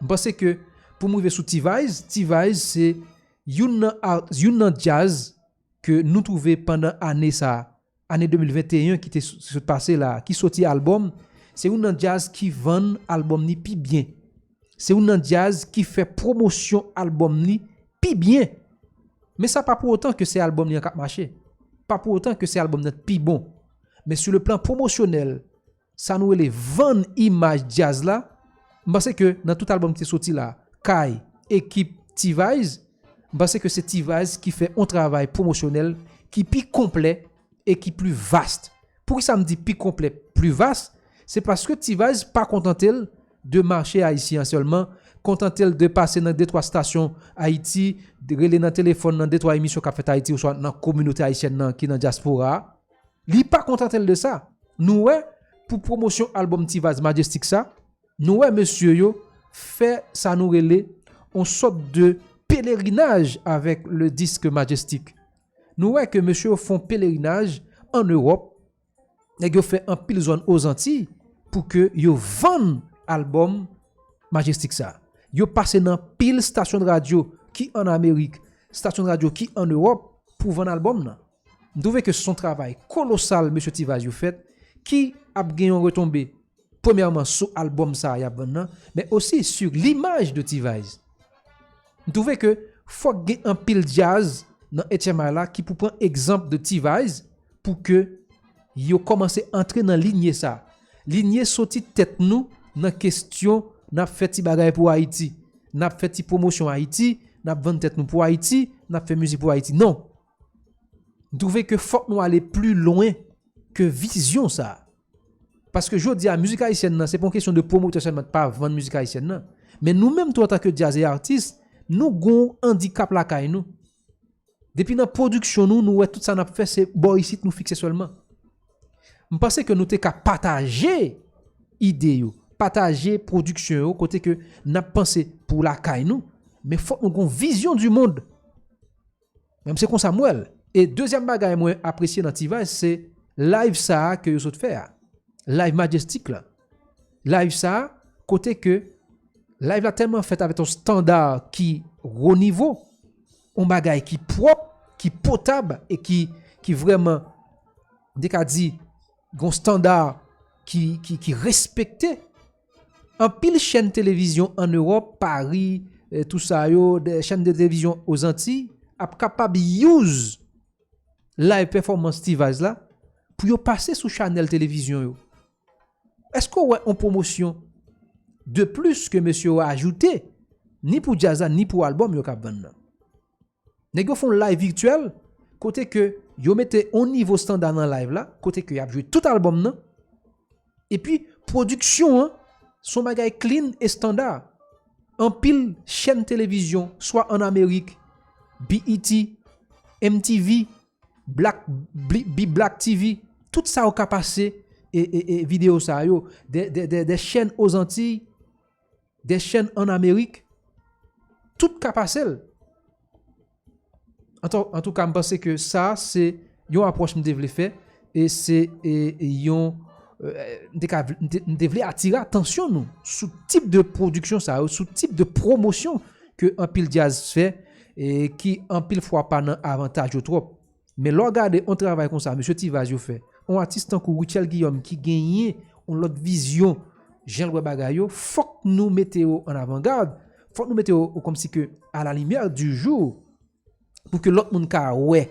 M panse ke pou m rive sou T-Vice, T-Vice se youn nan art, youn nan djaz ke nou twouve pandan ane sa, ane 2021 ki te sot pase la, ki soti albòm, se youn nan djaz ki vann albòm ni pi byen. Se youn nan djaz ki fè pwomosyon albòm ni pi byen. Men sa pa pou otan ke se albòm ni an k ap mache. Pa pou otan ke se albòm nan k pi bon. Men sou le plan pwomosyonèl, Sa nou rele vann imaj djaz la, m panse ke nan tout album ki te soti la, kay ekip T-vice, m panse ke se T-vice ki fè on travay pwomosyonèl ki pi konplè e ki pli vast. Poukisa m di pi konplè, pli vast? Se paske T-vice pa kontante l de mache ayisyen an sèlman, kontante l de pase nan de twa stasyon Ayiti, rele nan telefòn nan de twa emisyon k ap fèt Ayiti oswa nan kominote ayisyèn nan ki nan dyaspora a. Li pa kontante l de sa, nou wè pou pwomosyon albòm Ti Vaz Majestic sa, nou wè mesye yo fè sa nou rele on sòt de pelerinaj avèk le disk Majestic. Nou wè ke mesye yo fon pelerinaj an Ewòp, nèg yo fè anpil zòn o Zantiy pou ke yo vann albòm Majestic sa. Yo pase nan pil stasyon de radyo ki an Amerik, stasyon de radyo ki an Ewòp pou vann albòm nan. M twouve ke son travay kolosal mesye Ti Vaz yo fèt ki ap gen yon retonbe premyèman sou album sa yap vann nan men osi su limaj de Ti Vaz. M twouve ke fòk gen anpil djaz nan HMI la ki pou pran egzanp de Ti Vaz pou ke yo kòmanse antre nan linye sa. Linye soti tèt nou nan kestyon nap fè ti bagay pou Ayiti, nap fè ti pwomosyon Ayiti, nap vann tèt nou pou Ayiti, nap fè mizik pou Ayiti. Non! M twouve ke fòk nou ale pli lwen ke vizyon sa. Paske jodi a mizik ayisyèn nan se pa yon kesyon de pwomotè sèlman k pa vann mizik ayisyèn nan. Men nou menm tou antanke djaz e atis, nou gon andikap lakay nou. Depi nan pwodiksyon nou, nou wè tout sa n ap fè se bò isit nou fikse sèlman. M panse ke nou te ka pataje ide yo, pataje pwodiksyon yo kote ke n ap panse pou lakay nou, men fòk nou gon vizyon di mond. Menm se konsa m wè l. E dezyèm bagay mwen apresye nan T-Vice se live sa ke yo sot fè a. Live Majestic la. Live sa kote ke live la tèlman fèt avèk yon standard ki wo nivo, yon bagay ki pwòp, ki potab e ki vrèman m te ka di yon standard ki respekte. Anpil chèn televizyon an Ewòp, Pari, tou sa yo, chèn de televizyon o Zanti, ap kapab use live performance T-Vice la pou yo pase sou chanèl televizyon yo. Èske w wè on pwomosyon de plis ke mesye yo ajoute ni pou djaz la ni pou albòm yo k ap vann nan? Nèg yo fè yon live virtuel kote ke yo mete yon nivo standa nan live la, kote ke y ap jwe tout albòm nan, epi pwodiksyon an se yon bagay clean e standa. Anpil chèn televizyon swa an Amerik, BET, MTV, Black, B-Black TV, tout sa yo ka pase videyo sa yo, de chèn Ozantiy, Des chèn an Amerik, tout ka pase l. An tou ka m panse ke sa se yon apwòch m te vle fè e se yon m te vle atire atansyon nou sou tip de pwodiksyon sa yo, sou tip de pwomosyon ke anpil djaz fè e ki anpil fwa pa nan avantaj yo twòp. Men lè w gade yon travay konsa mesye Ti Vaz yo fè, yon atis tankou Rutshelle Guillaume ki genyen yon lòt vizyon jan l wè bagay yo, fòk nou mete yo an avan gad, fòk nou mete yo kòm si ke a la limyè di jou pou ke lòt moun ka wè,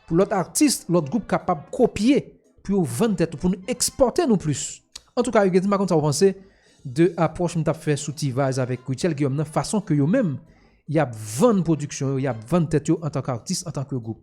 pou lòt atis, lòt gwoup kapab kopye pou yo vann tèt yo, pou nou ekspòte nou plis. Antouka Huguetti m pa konn sa w panse de apwòch m t ap fè sou Ti Vaz avèk Rutshelle Guillaume nan, fason ke yo menm y ap vann pwodiksyon yo, y ap vann tèt yo antanke atis, antanke gwoup.